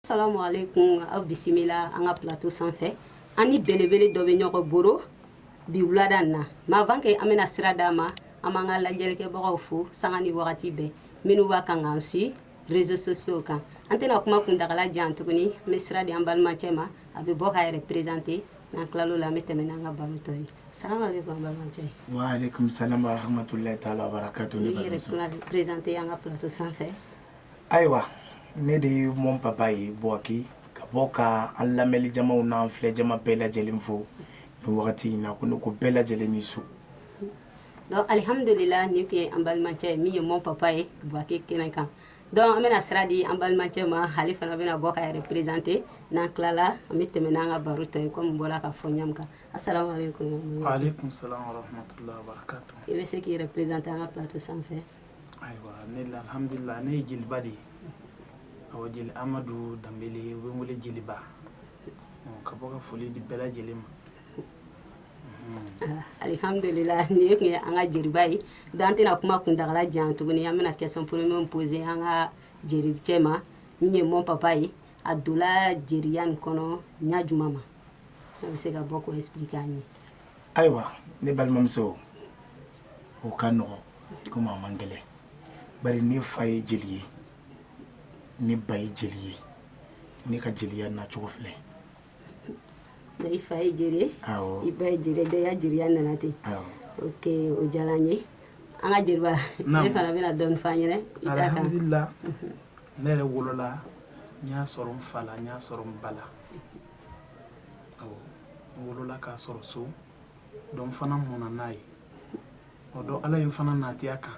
Salamu aleykum aw bisimila an ka plateau sanfɛ an ni belebele dɔ bɛ ɲɔgɔn boro bi wulada na mais avant que an bɛna sira d'a ma an b'an ka lajɛlikɛbagaw fo sanga ni wagati bɛɛ minnu b'a kan k'an suit réseaux sociaux kan an tɛna kuma kuntagala jan tuguni an bɛ sira di an balimacɛ ma a bɛ bɔ k'a yɛrɛ présenter n'an tilal'o la an bɛ tɛmɛ n'an ka baro tɔ ye salamu aleykum balimacɛ wa aleykum salam wa rahmatullahi taala wa barakatu i yɛrɛ tɛna présenter an ka plateau sanfɛ ayiwa ne de ye mon papa ye Bouaké ka bɔ ka an lamɛnli jamaw n'an filɛ jama bɛɛ lajɛlen fo nin wagati in na ko ne ko bɛɛ lajɛlen ni su donc alihamudulila nin tun ye an balimacɛ ye min ye mon papa ye Bouaké kɛnɛ kan donc an bɛna sira di an balimacɛ ma ale fana bɛna bɔ k'a yɛrɛ présenter n'an tilala an bɛ tɛmɛ n'an ka baro tɔ ye kɔmi bɔra k'a fɔ ɲa min kan assalamu aleykum wa aleykum salam wa rahmatullahi wa barakatu i bɛ se k'i yɛrɛ présenter an ka plateau sanfɛ ayiwa ne alihamdulila ne ye jeliba de ye awɔ jeli amadu danbele u bɛ n wele jeliba ka bɔ ka foli di bɛɛ lajɛlen ma Alihamdulila nin ye tun ye an ka jeliba ye donc an tɛna kuma kuntagala jan tuguni an bɛna question premier poser an ka jelicɛ ma min ye mon papa ye a donla jeliya nin kɔnɔ ɲa juma ma a bɛ se ka bɔ k'o expliquer an ye ayiwa ne balimamuso o ka nɔgɔ kɔmi a man gɛlɛn bari ne fa ye jeli ye ne ba ye jeli ye ne ka jeliya nacogo filɛ i fa ye jeri ye i ba ye jeri ye donc i ya jeriya nana ten ok o diyara an ye an ka jeliba e fana bɛna dɔɔni fɔ an ɲɛna i ta kan alihamdulila ne yɛrɛ wolola n y'a sɔrɔ n fa la n y'a sɔrɔ n ba la n wolola k'a sɔrɔ so donc n fana mɔna n'a ye o don ala ye n fana nati a kan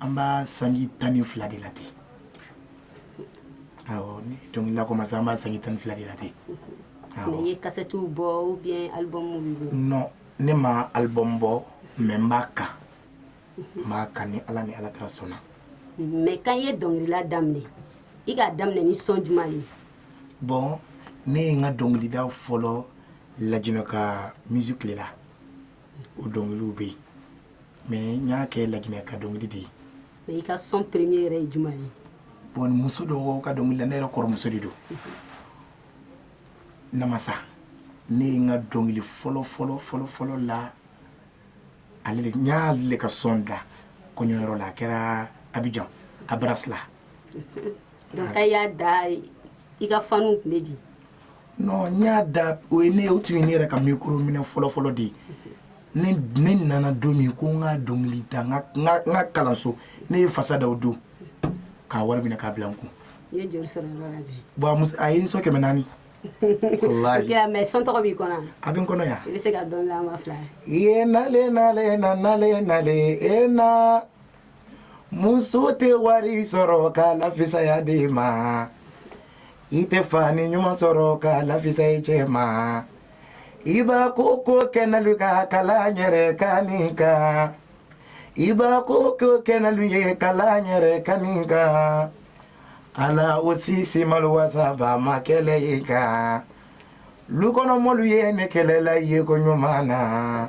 an b'a sanji tan ni fila de la ten awɔ ne ye dɔnkilila commencer an b'a sanji tan ni fila de la ten awɔ mais i ye kasɛtiw bɔ ou bien album b'i bolo non ne ma album bɔ mais n b'a kan n b'a kan ni ala ni alakira sɔnna mais quand i ye dɔnkilila daminɛ i k'a daminɛ ni son juma de ye bon ne ye n ka dɔnkilida fɔlɔ lajinɛ ka musique le la o dɔnkiliw bɛ yen mais n y'a kɛ lajinɛ ka dɔnkili de ye mais i ka son premier yɛrɛ ye juma ye bon muso dɔ ka dɔnkili la ne yɛrɛ kɔrɔmuso de don namasa ne ye n ka dɔnkili fɔlɔ fɔlɔ fɔlɔ fɔlɔ la ale de n y'ale ka son da kɔɲɔyɔrɔ la a kɛra Abidjan abras la donc quand i y'a da i ka fanw tun bɛ di non n y'a da o ye ne o tun ye ne yɛrɛ ka mikoro minɛ fɔlɔfɔlɔ de ye ne ne nana don min ko n ka dɔnkili da n ka n ka n ka kalanso ne ye fasa da o don k'a wari minɛ k'a bila n kun i ye joli sɔrɔ yɔrɔ la ten bon a muso a ye n sɔn kɛmɛ naani walayi ya mɛ sɔn tɔgɔ b'i kɔnɔ a bɛ n kɔnɔ yan i bɛ se ka dɔnkili la an ma fila ye nale nale na nale nale e na muso tɛ wari sɔrɔ ka lafisaya de ma i tɛ fani ɲuman sɔrɔ ka lafisa i cɛ ma i ba ko ko kɛnɛli ka kala yɛrɛ ka min ka i ba ko ko kɛnɛli ye kala yɛrɛ ka min ka ala o sisi malo wasaba ma kɛlɛ ye ka lukɔnɔmɔɔlu ye ne kɛlɛla ye ko ɲuman na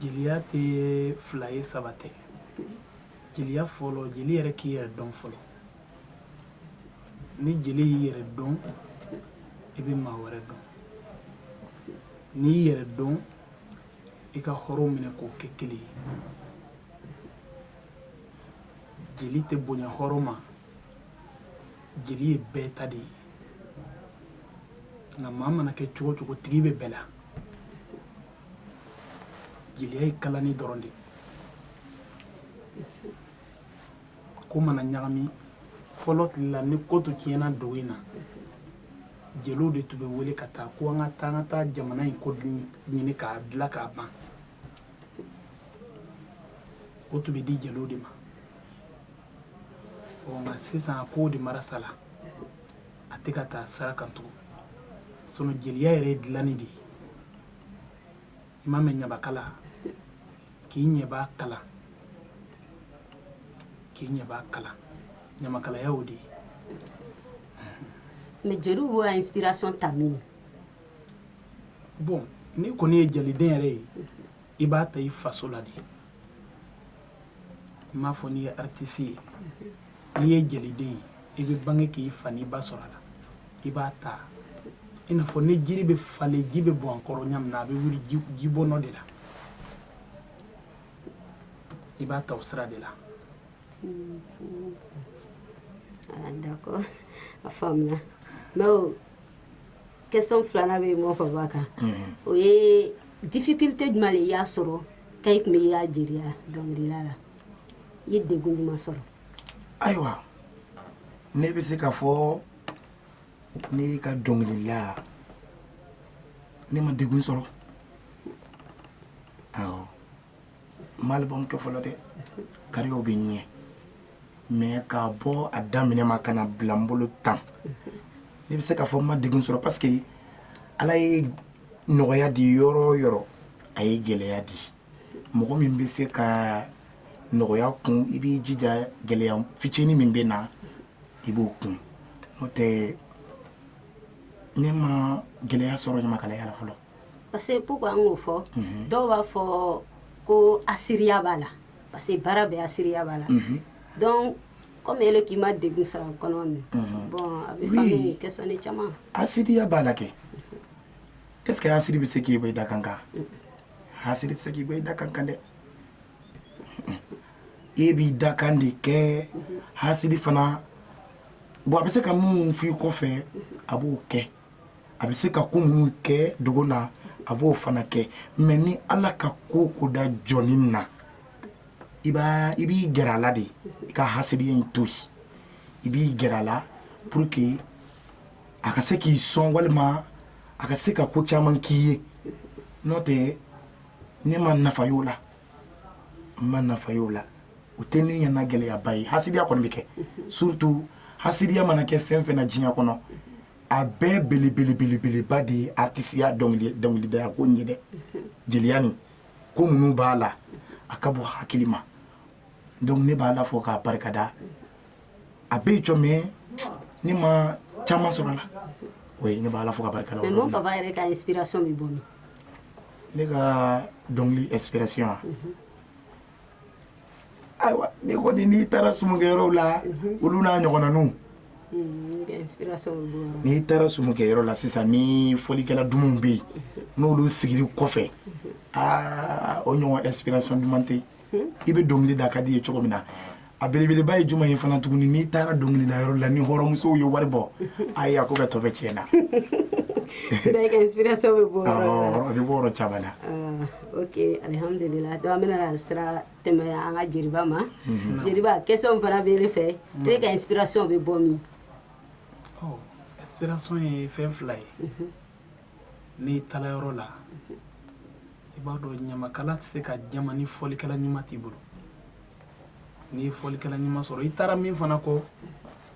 jeliya tɛ fila ye saba tɛ jeliya fɔlɔ jeli yɛrɛ k'i yɛrɛ dɔn fɔlɔ ni jeli y'i yɛrɛ dɔn i bɛ maa wɛrɛ dɔn n'i y'i yɛrɛ dɔn i ka hɔrɔn minɛ k'o kɛ kelen ye jeli tɛ bonya hɔrɔn ma jeli ye bɛɛ ta de ye nka maa mana kɛ cogo o cogo tigi bɛ bɛɛ la jeliya ye kalani dɔrɔn de ye ko mana ɲagami fɔlɔ tile la ni ko tun tiɲɛna dugu in na jeliw de tun bɛ wele ka taa ko an ka taa an ka taa jamana in ko ɲini k'a dila k'a ban o tun bɛ di jeliw de ma ɔ nka sisan a kow de marasala a tɛ ka taa sira kan tugun sinɔn jeliya yɛrɛ ye dilanni de ye i m'a mɛn ɲamakala k'i ɲɛbaa kala k'i ɲɛbaa kala ɲamakalaya y'o de ye mɛ jeliw b'o ya inspiration ta min bon n'i kɔni ye jaliden yɛrɛ ye i b'a ta i faso la de n m'a fɔ n'i ye aritisi ye n'i ye jeliden ye i bɛ bange k'i fa n'i ba sɔrɔ a la i b'a ta i n'a fɔ ni jiri bɛ falen ji bɛ bɔn a kɔrɔ ɲa min na a bɛ wuli ji bɔn o de la i b'a ta o sira de la d'accord a faamuna mɛ question filanan bɛ mɔgɔ fɔ kan o ye difficulté jumɛn de y'a sɔrɔ k'i kunbɛn i ya jeliya dɔnkilila la i ye degun jumɛn sɔrɔ ayiwa ne bɛ se k'a fɔ ne ka dɔnkilila ne ma degun sɔrɔ ma album kɛ fɔlɔ dɛ carrière bɛ ɲɛ mais k'a bɔ a daminɛ ma ka na bila n bolo tan ne bɛ se k'a fɔ n ma degun sɔrɔ parce que ala ye nɔgɔya di yɔrɔ o yɔrɔ a ye gɛlɛya di mɔgɔ min bɛ se ka nɔgɔya kun i b'i jija gɛlɛya fitinin min bɛ na i b'o kun n'o tɛ ne ma gɛlɛya sɔrɔ ɲamakalaya la fɔlɔ parce que pourquoi an k'o fɔ mhm. dɔw b'a fɔ ko asiriya b'a la parce que baara bɛɛ asiriya b'a la mhm. donc comme ele k'i ma degun sɔrɔ a kɔnɔ min mhm. bon a bɛ faamu question ni caman asiriya b'a la kɛ est ce que asiri bɛ se k'i bɔ i dakan kan asiri tɛ se k'i bɔ i dakan kan dɛ e b'i dakan de kɛ asiri fana bon a bɛ se ka min f'i kɔfɛ a b'o kɛ a bɛ se ka ko minnu kɛ dogo na a b'o fana kɛ mais ni ala ka ko ko da jɔnnin na i b'i gɛrɛ a la de i ka hasiriya in to yen i b'i gɛrɛ a la pour que a ka se k'i sɔn walima a ka se ka ko caman k'i ye n'o tɛ ne ma nafa y'o la n ma nafa y'o la o tɛ ne ɲɛna gɛlɛyaba ye hasiriya kɔni bɛ kɛ surtout hasiriya mana kɛ fɛn o fɛn na diɲɛ kɔnɔ a bɛɛ belebelebelebeleba de ye artisiya dɔnkilidaya ko ye dɛ jeliya nin ko minnu b'a la a ka bɔ hakili ma donc ne b'ala fo k'a barika da a bɛ jɔ mais ne ma caman sɔrɔ a la o ne b'ala fo k'a barika da ne ka dɔnkili inspiration ayiwa ne kɔni n'i taara sumukɛyɔrɔ la olu n'a ɲɔgɔnnaw n'i taara sumukɛyɔrɔ la sisan ni fɔlikɛla dumanw bɛ yen n'olu sigir'i kɔfɛ aa o ɲɔgɔn inspiration duman tɛ hmm? i bɛ dɔnkili da ka d'i ye cogo min na a belebeleba ye jumɛn ye fana tuguni n'i taara dɔnkilida yɔrɔ la ni hɔrɔnmusow ye wari bɔ ayi a ko bɛɛ tɔ bɛ tiɲɛ na inspiration bɛ bɔ a bɛ bɔ yɔrɔ caman na ah, ok alihamudulila donc an bɛna sira tɛmɛ an ka jeliba ma mhm. jeliba question fana bɛ ne fɛ mhm. e ka inspiration bɛ bɔ min oh, inspiration ye fɛn fila ye mhm. n'i taara yɔrɔ la i b'a dɔn ɲamakala tɛ se ka jama ni fɔlikɛla ɲuman t'i bolo n'i ye fɔlikɛla ɲuman sɔrɔ i taara min fana kɔ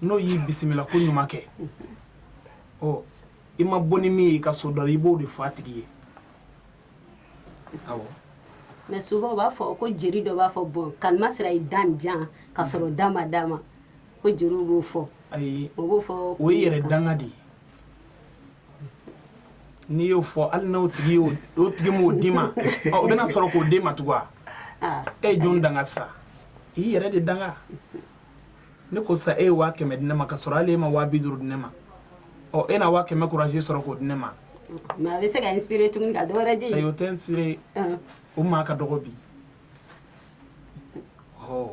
n'o y'i bisimila koɲuman kɛ ɔ i ma bɔ ni min ye i ka so dɔ la i b'o de fɔ a tigi ye awɔ mais souvent u b'a fɔ ko jeri dɔ b'a fɔ bon kalima sera i dan jan ka sɔrɔ da ma d'a ma ko jeriw b'o fɔ ayi o b'o fɔ o ye yɛrɛ danga de ye n'i y'o fɔ hali n'o tigi y'o o tigi m'o d'i ma ɔ, o bɛna sɔrɔ k'o d'e ma tugun wa Ah, e ye jɔn danga sa i y'i yɛrɛ de danga ne ko sa e ye waa kɛmɛ di ne ma ka sɔrɔ hali e ma waa bi duuru di ne ma ɔ e na waa kɛmɛ courage sɔrɔ k'o di ne ma mais a bɛ se ka inspiré tuguni ka dɔ wɛrɛ di ayi o tɛ inspiré Ah, o maa ka dɔgɔ bi ɔ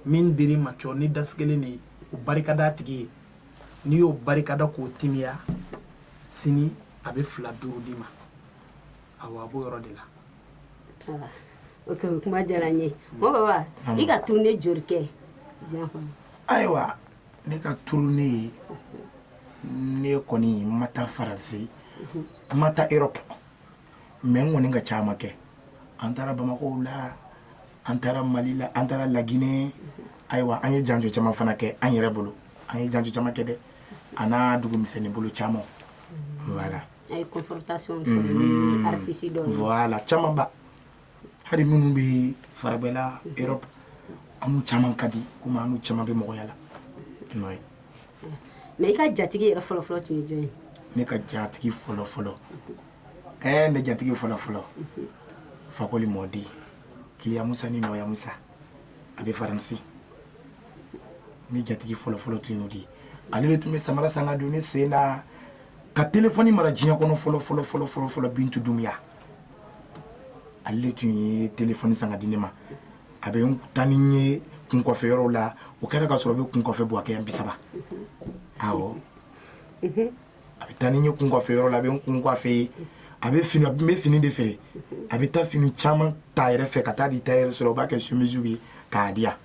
min dir'i ma cɔ ni dasigelen de ye o barika d'a tigi ye n'i y'o barikada k'o timiya sini a bɛ fila duuru d'i ma awa a b'o yɔrɔ de la ah, ok kuma diyara n ye hmm. mɔ baba i ka tournée jori kɛ diɲɛ kɔnɔ ayiwa ne ka tournée ne kɔni ma taa faransi hmm. ma taa europe mais n kɔni ka caman kɛ an taara bamakɔ la an taara mali la an taara laginɛ hmm. ayiwa an ye janjo caman fana kɛ an yɛrɛ bolo an ye janjo caman kɛ dɛ a n'a dugu misɛnnin bolo caman voilà a ye confrontation sɔrɔ ni mhm. artiste dɔ ye voilà caman ba hali minnu bɛ faragbɛla Europe an n'u caman ka di komi an n'u caman bɛ mɔgɔya la oui mais i ka jatigi yɛrɛ fɔlɔ fɔlɔ tun ye jɔn ye ne ka jatigi fɔlɔ fɔlɔ ɛɛ eh, ne jatigi fɔlɔ fɔlɔ mhm. fakoli mɔden kiliya musa ni nɔya musa a bɛ faransi ne jatigi fɔlɔfɔlɔ tun y'o de ye ale de tun bɛ samara san ka don ne sen na ka telefɔni mara diɲɛ kɔnɔ fɔlɔfɔlɔfɔlɔfɔlɔ bintu dumuya ale de tun ye telefɔni san ka di ne ma a bɛ n taa ni n ye kun coiffer yɔrɔw la o kɛra ka sɔrɔ a bɛ kun coiffer buwakɛ yan bi saba awɔ a bɛ taa ni n ye kun coiffer yɔrɔ la a bɛ n kun coiffer ye a bɛ fini a bɛ fini de feere a bɛ taa fini caman ta yɛrɛ fɛ ka taa di tailleur sɔrɔ o b'a kɛ sumisiw ye k'a di yan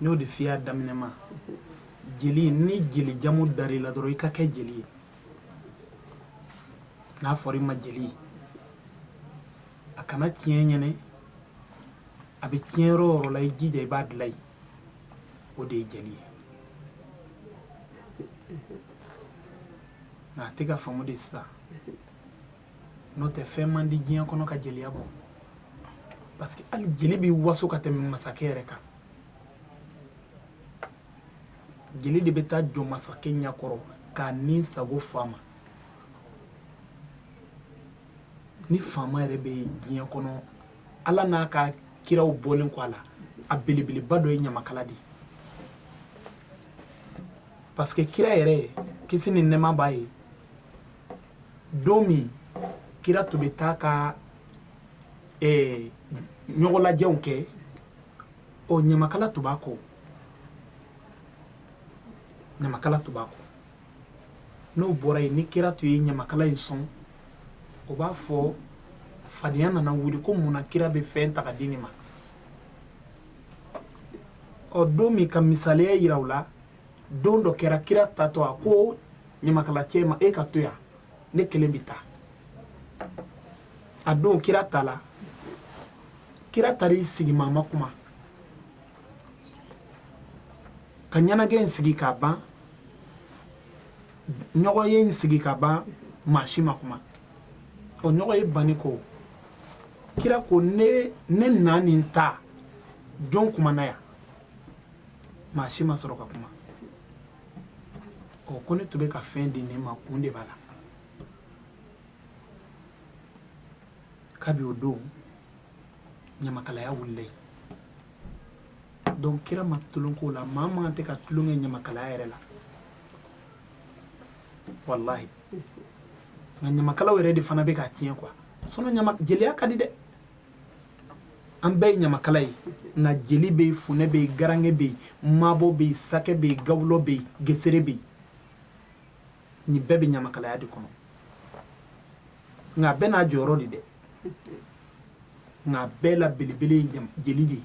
n y'o de f'i y'a daminɛ ma jeli ni jeli jamu dar'i la dɔrɔn i ka kɛ jeli ye n'a fɔra i ma jeli a kana tiɲɛ i ɲɛ na a bɛ tiɲɛ yɔrɔ o yɔrɔ la i jija i b'a dilan yen o de ye jeli ye nka a tɛ ka faamu de sisan n'o tɛ fɛn man di diɲɛ kɔnɔ ka jeliya bɔ parce que hali jeli bɛ waso ka tɛmɛ masakɛ yɛrɛ kan jeli de bɛ taa jɔ masakɛ ɲɛkɔrɔ k'a ni sago f'a ma ni faama yɛrɛ bɛ diɲɛ kɔnɔ ala n'a ka kiraw bɔlen kɔ a la a belebeleba dɔ ye ɲamakala de ye parce que kira yɛrɛ kisi ni nɛɛma b'a ye don min kira tun bɛ taa ka eh, ɲɔgɔnlajɛw kɛ ɔ ɲamakala tun b'a kɔ ɲamakala tun b'a kɔ n'o bɔra yen ni kira tun ye ɲamakala in sɔn o b'a fɔ fadenya nana wuli ko mun na kira bɛ fɛn ta ka di nin ma ɔ don min ka misaliya yira u la don dɔ kɛra kira taatɔ a ko ɲamakalacɛ ma e ka to yan ne kelen bɛ taa a don kira taala kira taar'i sigi maa ma kuma ka ɲɛnajɛ in sigi ka ban ɲɔgɔn ye in sigi ka ban maa si ma kuma o ɲɔgɔn ye banni ko kira ko ne ne na nin ta jɔn kumana yan maa si ma sɔrɔ ka kuma ɔ ko ne tun bɛ ka fɛn di nin ma kun de b'a la kabi o don ɲamakalaya wulila yen donc kira ma tulon k'o la maa man kan ka tulon kɛ ɲamakalaya yɛrɛ la walahi nka ɲamakalaw yɛrɛ de fana bɛ k'a tiɲɛ quoi sinon ɲama jeliya ka di dɛ an bɛɛ ye ɲamakala ye nka jeli bɛ yen funɛ bɛ yen garange bɛ yen mabɔ bɛ yen sakɛ bɛ yen gawulɔ bɛ yen gesere bɛ yen nin bɛɛ bɛ ɲamakalaya de kɔnɔ nka a bɛɛ n'a jɔyɔrɔ de dɛ nka a bɛɛ la belebele ye jeli de ye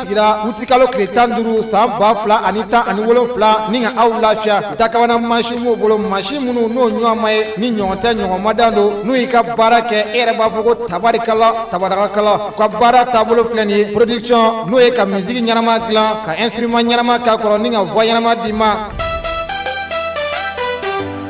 sigira utikalo tile tan duuru san ba fila ani tan ani wolonfila ni ka aw lafiya dakabana masin b'u bolo masin minnu n'o ɲɔgɔn ma ye ni ɲɔgɔn tɛ ɲɔgɔn ma dan don n'u y'i ka baara kɛ e yɛrɛ b'a fɔ ko tabarikala tabarakala u ka baara taabolo filɛ nin ye production n'o ye ka musique ɲɛnama dilan ka instrument ɲɛnama k'a kɔrɔ ni ka voix ɲɛnama d'i ma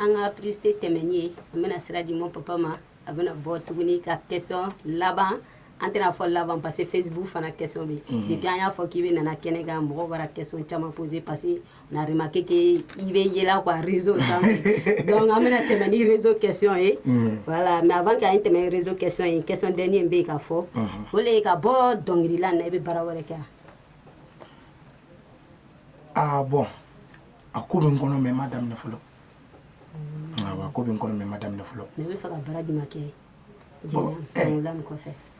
an ka publicité tɛmɛnen ye an bɛna sira di mon papa ma a bɛna bɔ tuguni ka question laban an tɛna fɔ laban parce que facebook fana question bɛ mhm. depuis an y'a fɔ k'i bɛna na kɛnɛ kan mɔgɔ bara question caman posé parce que on a remarqué que i bɛ yela quoi réseau sanfɛ donc an bɛna tɛmɛn ni réseau question ye mhm. voilà mais avant k'an tɛmɛn réseau question ye question dernier bɛ yen ka fɔ mhm. o le ye ka bɔ dɔnkilila na i bɛ baara wɛrɛ kɛ ah bon a ko bɛ n kɔnɔ mais n m'a daminɛ fɔlɔ a ko bɛ n kɔnɔ mais n m'a daminɛ fɔlɔ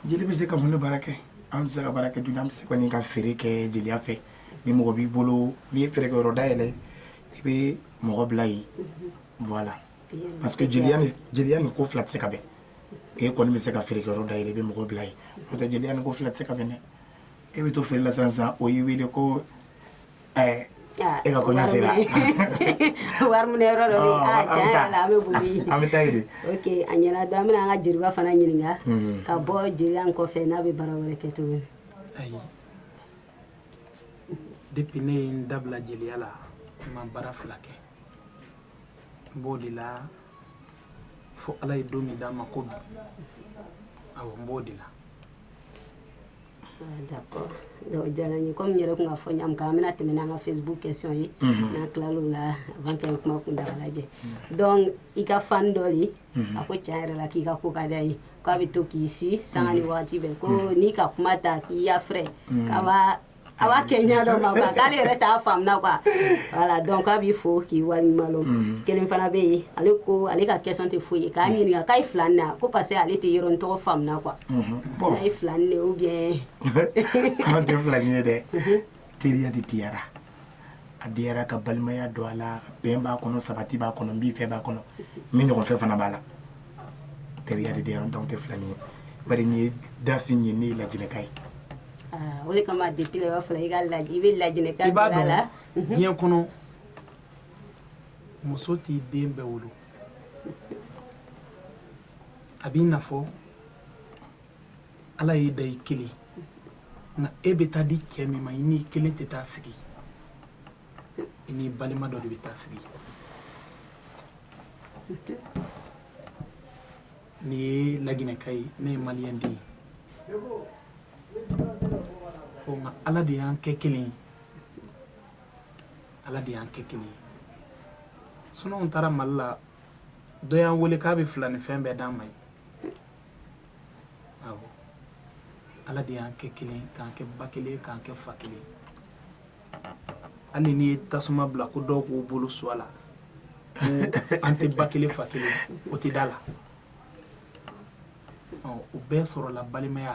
jeli bɛ se ka mun baara kɛ an bɛ se ka baara kɛ dun an bɛ se ka ka feere kɛ jeliya fɛ ni mɔgɔ b'i bolo n'i ye feereyɔrɔ dayɛlɛ i bɛ mɔgɔ bila yen voilà parce que jeliya ni ko fila tɛ se ka bɛn e kɔni bɛ se ka feereyɔrɔ dayɛlɛ i bɛ mɔgɔ bila yen n'o tɛ jeliya ni ko fila tɛ se ka bɛn dɛ e bɛ to feere la sisan sisan o y'i wele ko ɛɛ ah, e ka kɔɲɔ sera wari minɛ yɔrɔ dɔ bɛ yen ah, tiɲɛ yɛrɛ la an bɛ boli an bɛ taa yen de ok a ɲɛna donc an bɛna an ka jeliba fana ɲininka hmm. ka bɔ jeliya in kɔfɛ n'a bɛ baara wɛrɛ kɛ tuguni ayi depuis ne ye n da bila jeliya la n ma baara fila kɛ n b'o de la fo ala ye don min d'an ma ko bi awɔ n b'o de la Diyara n ye comme n yɛrɛ tun k'a fɔ ɲa min kan an bɛna tɛmɛ n'an ka Facebook question ye n'an tilala o la avant que an ka kuma kun da lajɛ donc i ka fan dɔ ye a ko tiɲɛ yɛrɛ la k'i ka ko ka d'a ye k'a bɛ to k'i suivi sanga ni waati bɛɛ ko n'i ka kuma ta k'i ya fɛ A b'a kɛ ɲɛ dɔ ma quoi k'ale yɛrɛ t'a faamuya quoi voilà donc k'a b'i fo k'i waleɲumandɔn mm. kelen fana bɛ yen ale ko ale ka question tɛ foyi ye k'a mm. ɲininka k'a ye filanin na ko parce que ale tɛ yɔrɔnin tɔgɔ faamuya quoi mm-hmm. bon a ye filanin de ou bien an tɛ filanin ye dɛ mm-hmm. teriya de diyara a diyara ka balimaya don a la bɛn b'a kɔnɔ sabati b'a kɔnɔ n b'i fɛ b'a kɔnɔ min ɲɔgɔn fɛ fana b'a la teriya de diyara nɔntɛ anw tɛ filanin ye bari nin ye dafin ye ne ye laginɛka ye o de kama de b'a fɔ i ka lajɛ i bɛ lajɛ b'a la la diɲɛ kɔnɔ muso t'i den bɛɛ wolo a b'i n'a ala y'i da i kelen nka e bɛ taa di cɛ min ma i n'i kelen tɛ taa sigi i n'i balima dɔ de bɛ taa sigi nin ye laginɛka ye ne ye maliyɛn den ye ko nka ala de y'an kɛ kelen ye ala de y'an kɛ kelen ye sinon n taara mali la dɔ y'an wele k'a bɛ filanin fɛn bɛɛ d'an ma ye ala de y'an kɛ kelen k'an kɛ ba kelen k'an kɛ fa kelen hali n'i ye tasuma bila ko dɔw k'u bolo su a la ko an tɛ ba kelen fa kelen o tɛ d'a la o bɛɛ sɔrɔla balimaya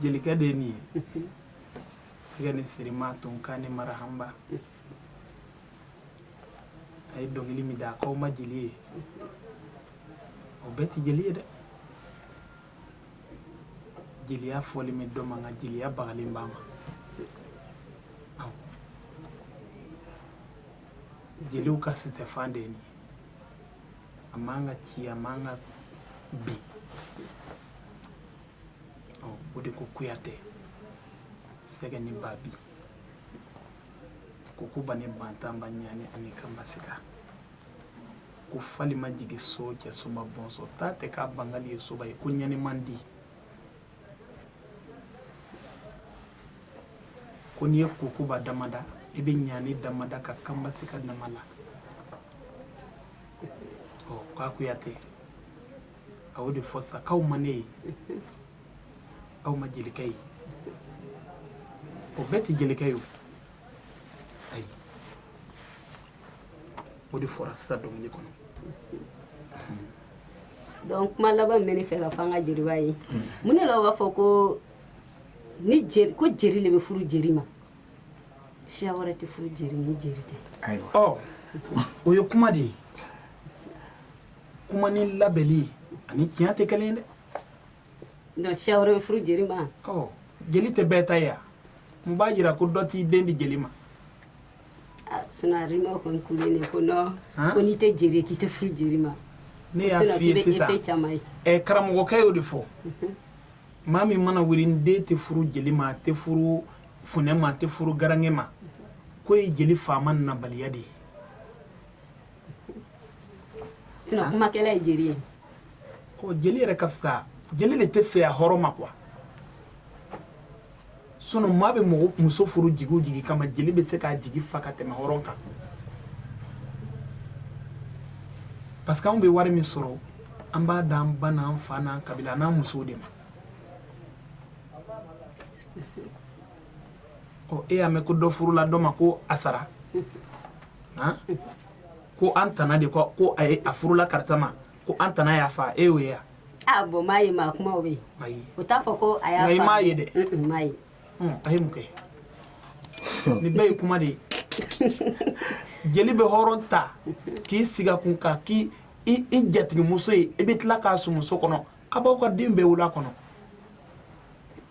jelikan de ye nin ye gani sirima tonkan ni marahanba a ye dɔnkili min da k'aw ma jeli ye o bɛɛ tɛ jeli ye dɛ jeliya fɔli min dɔ man kan jeliya bagalen b'a ma Awɔ. jeliw ka sisɛfan de ye nin ye a man ka ci a man ka bin o de ko kuyate sɛgɛ ni babi kukuba ni bantanba ɲani ani kanbasika ko fali ma jigi so cɛ soma bɔnsɔn ta tɛ k'a bangali ye soba ye ko ɲani man di ko n'i ye kukuba damada i bɛ ɲani damada ka kanbasika damada ɔ k'a kuyate a y'o de fɔ sa k'aw ma ne ye aw ma jelikɛ ye o bɛɛ tɛ jelikɛ ye o ayi o de fɔra sisan dɔnkili kɔnɔ donc kuma laban min bɛ ne fɛ ka fɔ an ka jeliba ye mun de la u b'a fɔ ko ni jeri ko jeri de bɛ furu jeri ma siya wɛrɛ tɛ furu jeri ni jeri tɛ ayiwa ɔ o ye kuma de ye kuma ni labɛnni ani tiɲɛ tɛ kelen ye dɛ donc siya wɛrɛ bɛ furu jeli ma ɔ jeli tɛ bɛɛ ta ye wa mun b'a jira ko dɔ t'i den di jeli ma ah, sinɔn a rima kɔni kulen ne ko nɔn ko n'i tɛ jeri k'i tɛ furu jeri ma ne y'a f'i ye sisan ɛ eh, karamɔgɔkɛ y'o de fɔ mhm. maa min mana wuli n den tɛ furu jeli ma a tɛ furu funɛ ma a tɛ furu garange ma k'o ye jeli faamuyabaliya de ye sinɔn ah. kumakɛla ye jeli ye ɔ jeli yɛrɛ ka fisa jeli de tɛ fɛya hɔrɔn ma quoi sinɔn maa bɛ mɔgɔ muso furu jigi o jigi kama jeli bɛ se k'a jigi fa ka tɛmɛ hɔrɔn kan parce que anw bɛ wari min sɔrɔ an b'a d'an ba n'an fa n'an kabila n'an musow de ma e y'a mɛn ko dɔ furula dɔ ma ko a sara ko an tana de ko ko a a furula karisa ma ko an tana y'a fa e y'o ye yan ah, bɔn m'a ye maa kuma bɛ yen o t'a fɔ ko a y'a m'a ye dɛ m'a ye a ye mun kɛ nin bɛɛ ye kuma de ye jeli bɛ hɔrɔn ta k'i sigi a kun k'a k'i jatigimuso ye i bɛ tila k'a sumuso kɔnɔ a b'aw ka den bɛɛ wolo a kɔnɔ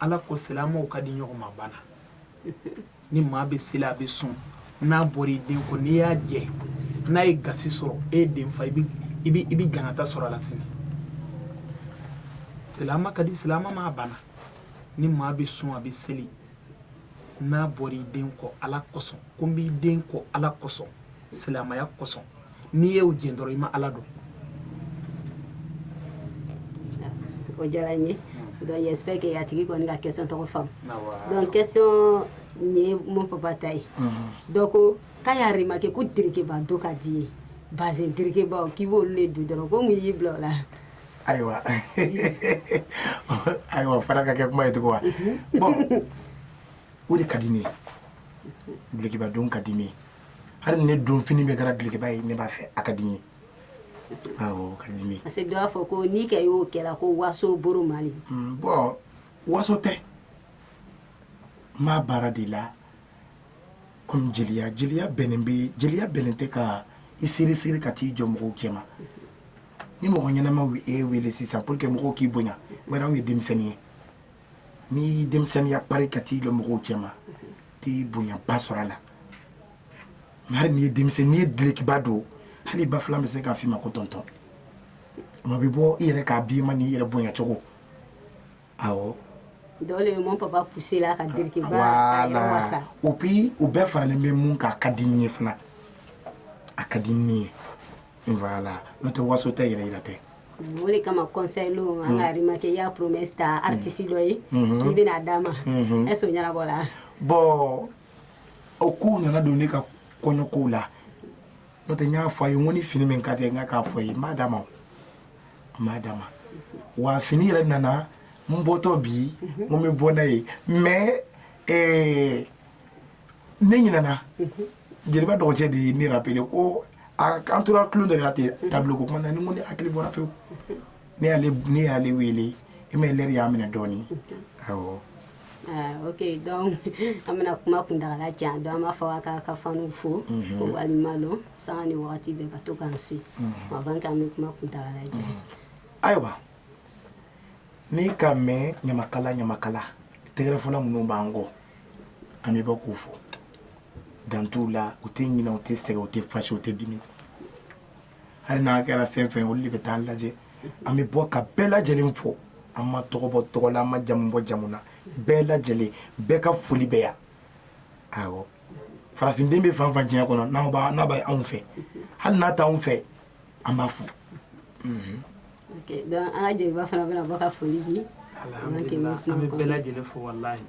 ala ko silamɛw ka di ɲɔgɔn ma bana ni maa bɛ seli a bɛ sun n'a bɔra i den kɔ n'i y'a jɛ n'a ye gasi sɔrɔ e ye den fa i bɛ i bɛ i bɛ jangata sɔrɔ a la sini silamɛ ka di silamɛ ma bana ni maa bɛ sun a bɛ seli n'a bɔra i den kɔ ala kosɔn ko n b'i den kɔ ala kosɔn silamaya kosɔn n'i y'o jɛn dɔrɔn i ma ala dɔn o diyara n ye donc j'espère que a tigi kɔni ka question tɔgɔ faamu donc question nin ye mon papa ta ye dɔ ko k'a y'a remarqué ko derekeba don ka d'i ye bazin derekebaw k'i b'olu le don dɔrɔn ko mun y'i bila o la ayiwa ayiwa fana ka kɛ kuma ye tugun wa bon o de ka di ne ye dulokiba don ka di ne ye hali ne donfini bɛɛ kɛra dulokiba ye ne b'a fɛ a ka di n ye awɔ ka di n ye parce que dɔ b'a fɔ ko n'i kɛ y'o kɛra ko waso b'o rɔ mali Mm, bon waso tɛ n b'a baara de la komi jeliya jeliya bɛnnen bɛ jeliya bɛnnen tɛ ka i serré serré ka t'i jɔ mɔgɔw cɛma ni mɔgɔ ɲɛnama ye e wele sisan pour que mɔgɔw k'i bonya bari anw ye denmisɛnnin ye n'i denmisɛnninya pari ka t'i jɔ mɔgɔw cɛma i tɛ bonyaba sɔrɔ a la mais hali n'i ye denmisɛn n'i ye dulokiba don hali i ba filan bɛ se k'a f'i ma ko tɔntɔn ma bɛ bɔ i yɛrɛ k'a bi ma n'i yɛrɛ bonya cogo awɔ u bi u bɛɛ faralen bɛ mun kan a ka di n ye fana a ka di n ye Voilà. N'o tɛ waso tɛ yɛrɛ yira tɛ. O de kama conseil lenw an k'a remarqué i ye promesse ta artiste dɔ ye k'i bɛn'a d'a ma est ce que o ɲɛnabɔla? Bon o kow nana don ne ka kɔɲɔ kow la n'o tɛ n y'a fɔ a ye n ko ni fini min ka di ye n k'a fɔ a ye n b'a d'a ma o n b'a d'a ma wa fini yɛrɛ nana n bɔtɔ bi n ko n bɛ bɔ n'a ye mais ee ne ɲinɛna. jeliba dɔgɔcɛ de ye ne rappelé ko a an tora tulon dɔ de la ten tableau ko kuma na ni ko ne hakili bɔra pewu ne y'ale ne y'ale wele i ma lɛri y'a minɛ dɔɔni awɔ Ah, ok donc an bɛna kuma kuntagala jan donc an b'a fɔ a k'a ka faniw fo Mhm. ko waliɲuman lɔn sanga ni wagati bɛɛ ka to k'an su Mhm. avant k'an bɛ kuma kuntagala jan ayiwa n'i k'a mɛn ɲamakala ɲamakala tɛgɛrɛfɔla minnu b'an kɔ an bɛ bɔ k'u fo dan t'u la u tɛ ɲinɛ u tɛ sɛgɛn u tɛ fâché u tɛ dimi hali n'a kɛra fɛn fɛn ye olu de bɛ taa an lajɛ an bɛ bɔ ka bɛɛ lajɛlen fo an ma tɔgɔ bɔ tɔgɔ la an ma jamu bɔ jamu na bɛɛ lajɛlen bɛɛ ka foli bɛ yan awɔ farafinden bɛ fan fan diɲɛ kɔnɔ n'a b'a n'a bɛ anw fɛ hali n'a t'anw fɛ an b'a fo donc an ka jeliba fana bɛna bɔ ka foli di alhamdulillah an bɛ bɛɛ lajɛlen fo walahi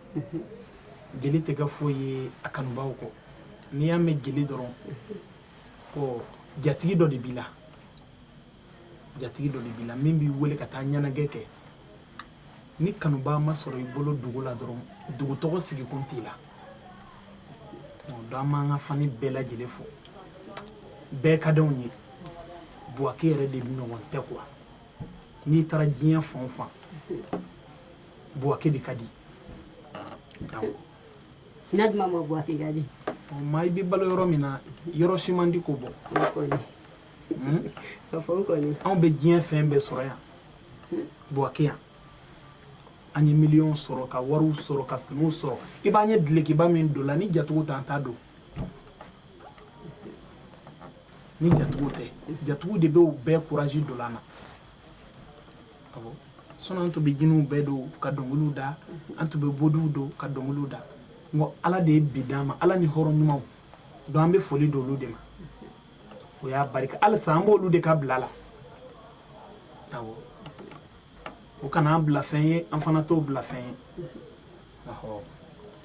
jeli tɛ kɛ foyi ye a kanubaaw kɔ n'i y'a mɛn jeli dɔrɔn ko jatigi dɔ de b'i la jatigi dɔ de b'i la min b'i wele ka taa ɲɛnajɛ kɛ ni kanubaa ma sɔrɔ i bolo dugu la dɔrɔn dugu tɔgɔ sigikun t'i la donc an b'an ka fani bɛɛ lajɛlen fo bɛɛ ka d'anw ye buwake yɛrɛ de ɲɔgɔn tɛ quoi n'i taara diɲɛ fan o fan buwake de ka di n'a duma ma buwake ka di maa i bɛ balo yɔrɔ min na yɔrɔ si man di k'o bɔ anw bɛ diɲɛ fɛn bɛɛ sɔrɔ yan buwake yan an ye miliyɔn sɔrɔ ka wariw sɔrɔ ka finiw sɔrɔ i b'an ye dulokiba min don la ni jatigiw t'an t'a don ni jatigiw tɛ jatigiw de bɛ o bɛɛ courage don an na sinon an tun bɛ jiniw bɛɛ don ka dɔnkiliw da an tun bɛ bodiw don ka dɔnkiliw da nka ala de ye bi d'an ma ala ni hɔrɔn ɲumanw don an bɛ foli d'olu de ma o y'a barika halisa an b'olu de ka bila la awɔ o kana an bila fɛn ye an fana t'o bila fɛn ye awɔ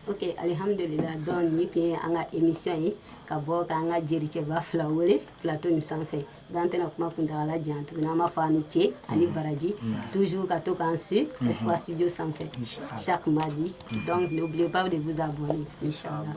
ok alihamudulila donc nin tun ye an ka émission ye ka bɔ k'an ka jericɛba fila wele plateau nin sanfɛ donc an tɛna kuma kuntagala jan tuguni an b'a fɔ a ni ce ani baraji toujours ka to k'an su espace studio sanfɛ chaque mardi donc n'oubliez pas de vous abonner inchallah